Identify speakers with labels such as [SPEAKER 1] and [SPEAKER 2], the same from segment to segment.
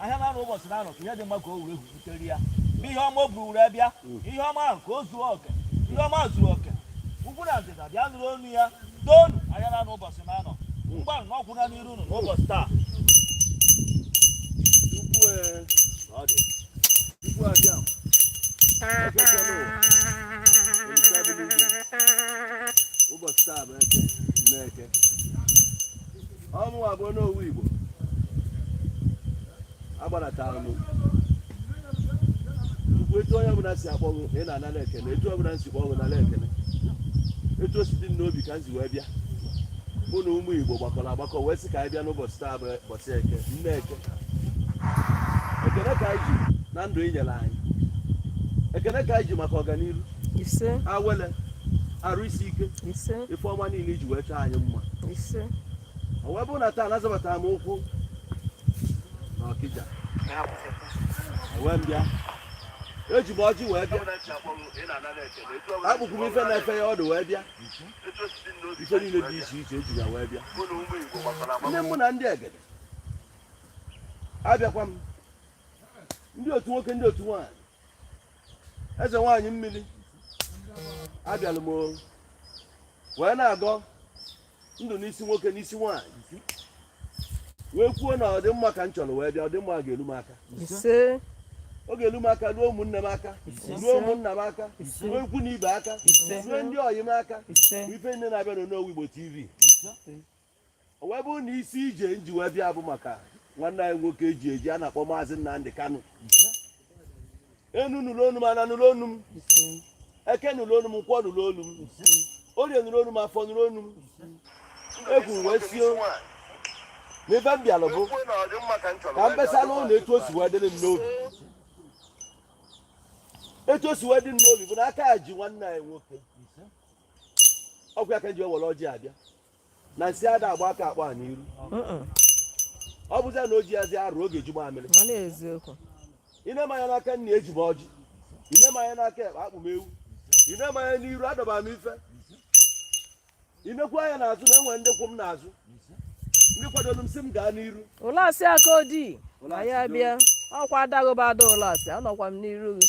[SPEAKER 1] ahịa n'anọ ụbọsị n'anọ ka ihe dị mma ka o were butere ya ihe ọma o buru were bịa ihe ọma ahụ ka o zuo oke ihe ọma zuru oke ugwu na ndịda bịa nụrụ onu ya toonu ahịa n'anọ ụbọsị n'anọ mgbanụ na ọkwụ na n'iru unu n'ụbọsị taa ụbọsị taa bụ eke nne eke ọ mụwa bụ onowu igbo agbanatara m tupu etu onye ọbụla si akpọ gị na ị na-anara ekene etu ọbụla m si kpọọ gị nara ekene etu o si dị m n'obi ka m si wee bịa mụ na ụmụ igbo gbakọrọ agbakọ wee sị ka anyị bịa n'ụbọchị taa bụ ụbọchị eke nne eke ekene ka anyị ji na ndụ ị nyere anyị ekene ka anyị ji maka ọganihu ise awele arụ isi ike ise ife ọma niile i ji wee chọọ anyị mma ise o wee bụrụ na taa na azọbatara m ụkwụ na ọkịja wee bịa eji m ọjị wee bịa akpụkwụ m ife na-efe ọdụ wee bịa ife niile dị iche iche eji ya wee bịa ndị mụ na ndị egede abịakwa m ndị otu nwoke ndị otu nwaanyị eze nwaanyị mmiri abịala m wee na-agọ ndụ n'isi nwoke n'isi nwaanyị wee kwuo na ọdịmma ka m chọrọ wee bịa ọdịmma ga-elu m aka ọ ga-elu m aka ruo ụmụnne m aka ruo ụmụnna m aka ruo ikwu na ibe aka ruo ndị ọyị m aka ife niine na-abịa n'Onowu Igbo TV o wee bụrụ na isi ije m ji wee bịa bụ maka nwanne anyị nwoke e ji eji a na-akpọ maazị Nnamdị Kanụ enu nụrụ onu m ana nụrụ onu m eke nụrụ onu m nkwọ nụrụ onu m orie nụrụ onu m afọ nụrụ onu m egwu wee sie n'ebe m bịalụ bụ ka m besa unu etu o si wee dịrị m n'obi etu o si wee dị m n'obi bụ na aka ji nwanne anyị nwoke okwu ya ka m ji ewere ọjị abịa na a sị ada agba aka akpa a n'iru ọ bụzi na o ji azi arụ oge ejigbo amịrị mana eziokwu i nee m anya n'aka nni eji m ọjị i nee m anya n'aka ekpe akpụ m ewu i nee m anya n'iru adọba m ife i nekwu anya n'azụ na enwe ndị kwụ m n'azụ ndị kwadoro m sị m gaa n'iru ụlasị aka odi ma ya bịa ọkwa adaghịba ada ụlasị anọkwa m n'iru gị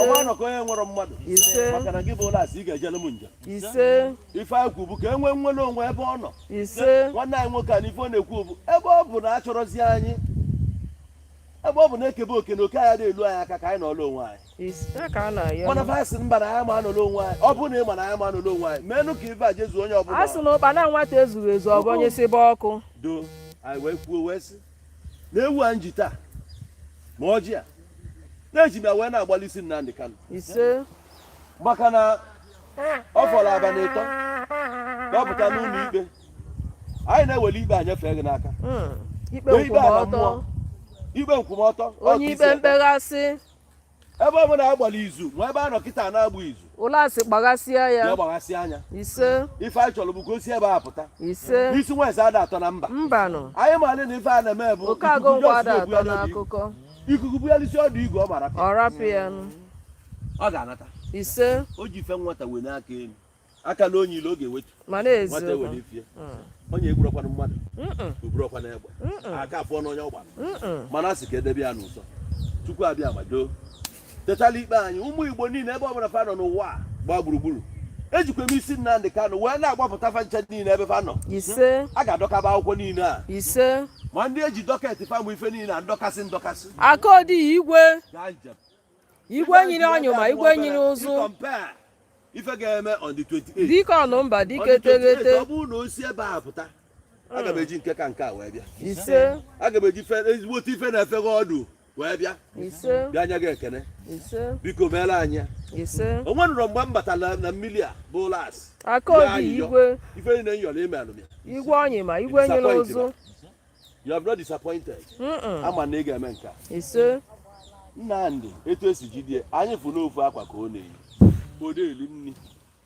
[SPEAKER 1] ọnwa anọ ka onye nwere mmadụ maka na gị bụ ụlasị ị ga-ejele m njem ife anyị kwu bụ ka o wee nwere onwe ebe ọ nọ nwanne anyị nwoke a na ife ọ na-ekwu bụ ebe ọ bụ na achọrọzi anyị ebe ọ bụ na e kebe oke na oke anara elu anyị aka ka anyị nọọla onwe anyị mana va sị mba na anyị ma anọla onwe anyị ọ bụrụ na ị ma na anyị ma anọla onwe anyị meenụ ka ife a jezuo onye ọbụla a sị na ụkpana nwata ezughị ezu ọ bụ onye si be ọkụ do anyị wee kwuo wee sị na ewu a m ji taa ma ọjị a na-eji bịa wee na-agbalị isi Nnamdi Kanu ise maka na ọ fọrọ abalị ịtọ dọpụta n'ụlọ ikpe anyị na-ewere ikpe a nyefee gị n'aka hmm, ikpe nkwụmọtọ onye ikpe mkpeghasị ebe ọ bụla agbara izu ma ebe a nọ kịta na-agba izu ụlasị kpaghasịa ya kpaghasịa ya ise ife anyị chọrọ bụ ka o si ebe a pụta ise isi nwa eze ada ato na mba mbanụ anyị maara na ife a na-eme bụ oke agụ ikuku ngwa ada jọsụ atọ na-ebugharị obi. akụkọ ikuku bugharịsịa ọdụ igu ọ mara ọ rapụ ya nụ. ọ ga-anata ise o ji ife nwata wenie aka elu aka na onye ile ọ ga-ewetu nye nwata n'eziokwu ewere ifie onye egburọkwana mmadụ o burọkwana egbe aka afọ n'onye ọ gbara mana a sị ka edebe ya n'ụzọ chukwu abịama doo tetala ikpe anyị ụmụ igbo niile ebe ọbụla fa nọ n'ụwa a gbaa gburugburu ejikwa m isi nnamdị kanụ wee na-agbapụta fa ncha niile ebe fa nọ ise a ga-adọkaba akwụkwọ niile a ise ma ndị eji dọketị fa mụ ife niile a ndọkasị ndọkasị akodi igwe gaa njem igwe nyiri ọnyụma igwe nyiri ụzụ ife ga-eme on the 28 dike ọnụ mba dike teghete ọ bụrụ na o si ebe a pụta aga m eji nke ka nke a wee bịa ise aga m eji ezigbo otu ife na-efe gị ọdụ wee bịa ise bịa nye gị ekene ise biko meela anyị ya ise o nwerụrọ mgbe m batara na mmiri a bụ ụlasị aka obi igwe ife niile m yọrọ i melụ m ya igwe ọnyụma igwe nyiri ụzụ you have not disappointed ama m na ị ga-eme nke a nnamdị etu esi jide anyị fụ n'ofu akwa ka ọ na-eyi ọ da eri nri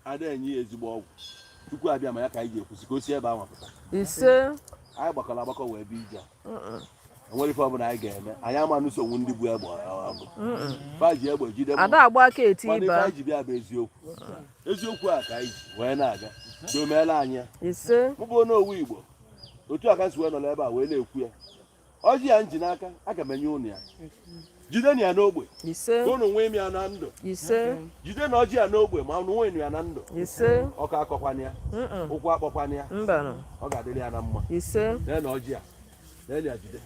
[SPEAKER 1] ada enye ya ezigbo ọgwụ chukwu abịama ya ka anyị ga-ekwusi ka o si ebe ahụ pụta anyị gbakọrọ agbakọ wee bịa ise enwerọ ife ọbụla anyị ga-eme anyị ama nụso ndị bu egbe ọgụ fa ji egbe jide ada agba aka eti ife anyị ji bịa bụ eziokwu eziokwu a ka anyị ji wee na-aga doo meela anyị mụbụ n'owu igbo otu a ka m si wee nọ n'ebe a wee na-ekwu ya ọjị a m ji n'aka aga m enye ụnụ ya jidenu ya n'ogbe ka ụnụ nwee m ya na ndụ jidenu ọjị a n'ogbe ma ụnụ nwee ya na ndụ ọkọ akọkwana ya ụkwụ akpọkwana ya ọ ga-adịrị ya na mma leenu ọjị a lee ya jide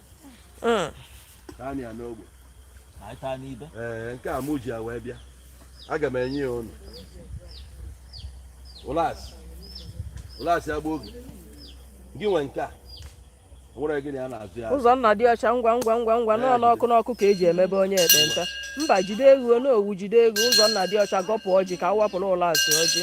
[SPEAKER 1] mm. taa ya n'ogbe anyị taa n'ibe ee nke a mụ ji ya wee bịa aga m enye ya ụnụ ụlasị ụlasị agba ọ gị nwe nke a nwere gịnị a na-azụ ya ụzọ nna dị ọcha ngwa ngwa ngwa ngwa nọọ n'ọkụ n'ọkụ ka eji emebe onye ekpenta mba jide eghu n'owu jide eghu ụzọ nna dị ọcha gọpụ ọjị ka a wapụrụ ụlasị ọjị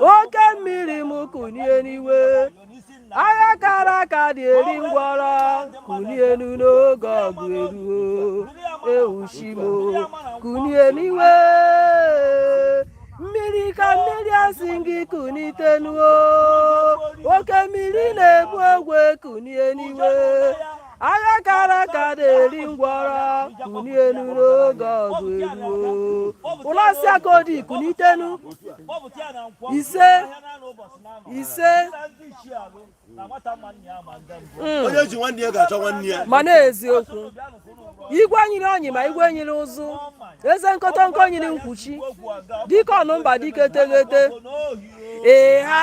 [SPEAKER 1] oke mmiri m kunie n'iwe agha kara aka adị eri ngwọrọ kunienu n'oge ọgụ eruo ewuchimo kunie n'iwe mmiri ka mmiri asị m gị kunitenuo oke mmiri na-ebu ogwe kunie n'iwe agha kara aka adị eri ngwọrọ kunienu n'oge ọgụ eruo ụlasị aka odi kunitenu ise ise mm. onye ji nwanne ya ga-achọ nwanne ya ma na-eziokwu igwe nyiri ọnyị ma igwe nyiri ụzụ eze nkọtọnkọ nyiri nkwuchi dike ọnụmba dike teghete ee ha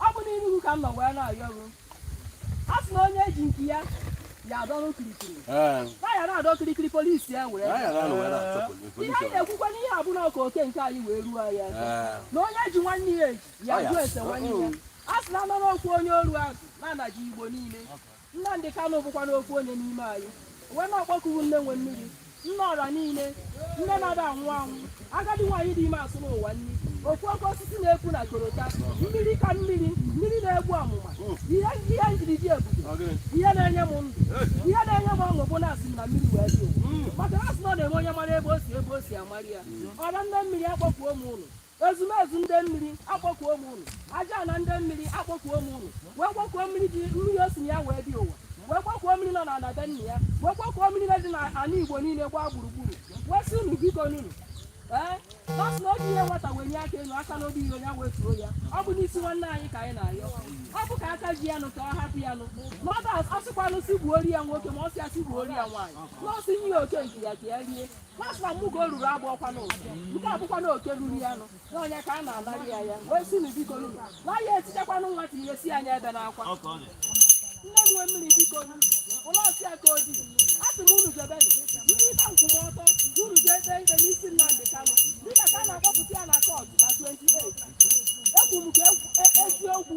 [SPEAKER 1] ọ bụ n'iru gị ka m nọ wee na-ayọ gị a sị na onye ji nke ya ya adọrọ kirikiri Ee, na ya na-adọ kirikiri polisi ya were anyị na-anọ wee na-achọ ihe anyị polisi. na-ekwukwa n'ihe a bụ na ọ ka oke nke anyị wee ruo anyị aka Ee, na onye ji nwanne ya eji ya Ọ ya. jụ ese nwanne ya a sị na anọrọ okwu onye oru azụ na-anaji igbo niile Nnamdị Kanụ bụkwanụ ofu onye n'ime anyị wee na-akpọku gị nne nwe mmiri nne ọra niile nne na-ada anwụ anwụ agadi nwaanyị dị ime asụ n'ụwa nri ofu oke osisi na-epu na korota mmiri ka mmiri mmiri na-egbu amụma ihe ihe m jiri dị ebube ihe na-enye m ndụ ihe na-enye m ọṅụ bụ na esi m na mmiri wee bịa ụwa maka na asị na ọ na-eme onye mara ebe o si ebe o si amara ya ọra nne mmiri akpọkuo m unu ezumezu ndị mmiri akpọkuo m unu ajana ndị mmiri akpọkuo m unu wee kpọkuo mmiri dị mmiri o si na ya wee bịa ụwa wee kpọkuo mmiri nọ n'ala be nna ya wee kpọkuo mmiri na dị n'ala igbo niile gbaa gburugburu wee sị unu biko nunu ee nọọsụ na ọ bụ ihe nwata wee nye aka elu aka n'obi iro ya wee tuo ya ọ bụ n'isi nwanne anyị ka anyị na-ayọ ọ bụ ka aka ji ya nụ ka ọ hapụ ya nụ na ọ ga-asịkwanụ si gbuori ya nwoke ma ọ sị ya si gbuori ya nwaanyị nọọsụ nye ya oke nke ya ka ya rie Nwafọ mmugo ruru agba ọkwa n'ụzọ nke abụkwa na oke ruru ya nụ n'ọnya ka a na-anarị ya ya wee sị unu bikonụ na ya etichakwanụ nwata asị ya ebena akwa nne m nwe mmiri biko nụ ụlasị aka odi a sị m unu jebenụ ndị ịta nkwụmọtọ unu jee kpee ikpe n'isi Nnamdị Kanụ dịka ka a na-akpọpụta ya na kọọtụ na 28 ekwu m ka eziokwu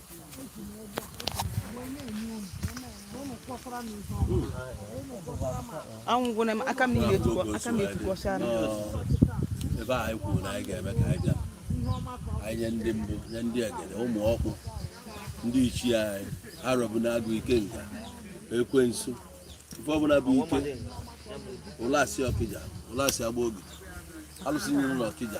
[SPEAKER 1] anwụgwụna m aka m niile etukọ aka m etukọcha na ebe a anyị kwuru na anyị ga-eme ka anyị bịa anyị nye ndị mbụ nye ndị egede ụmụ ọkpụ ndị ichie anyị arọbụnagụ ikenga ekwensu ife ọbụla bụ ike ụlasị ọkịja ụlasị agbogidi alụsị niile na ọkịja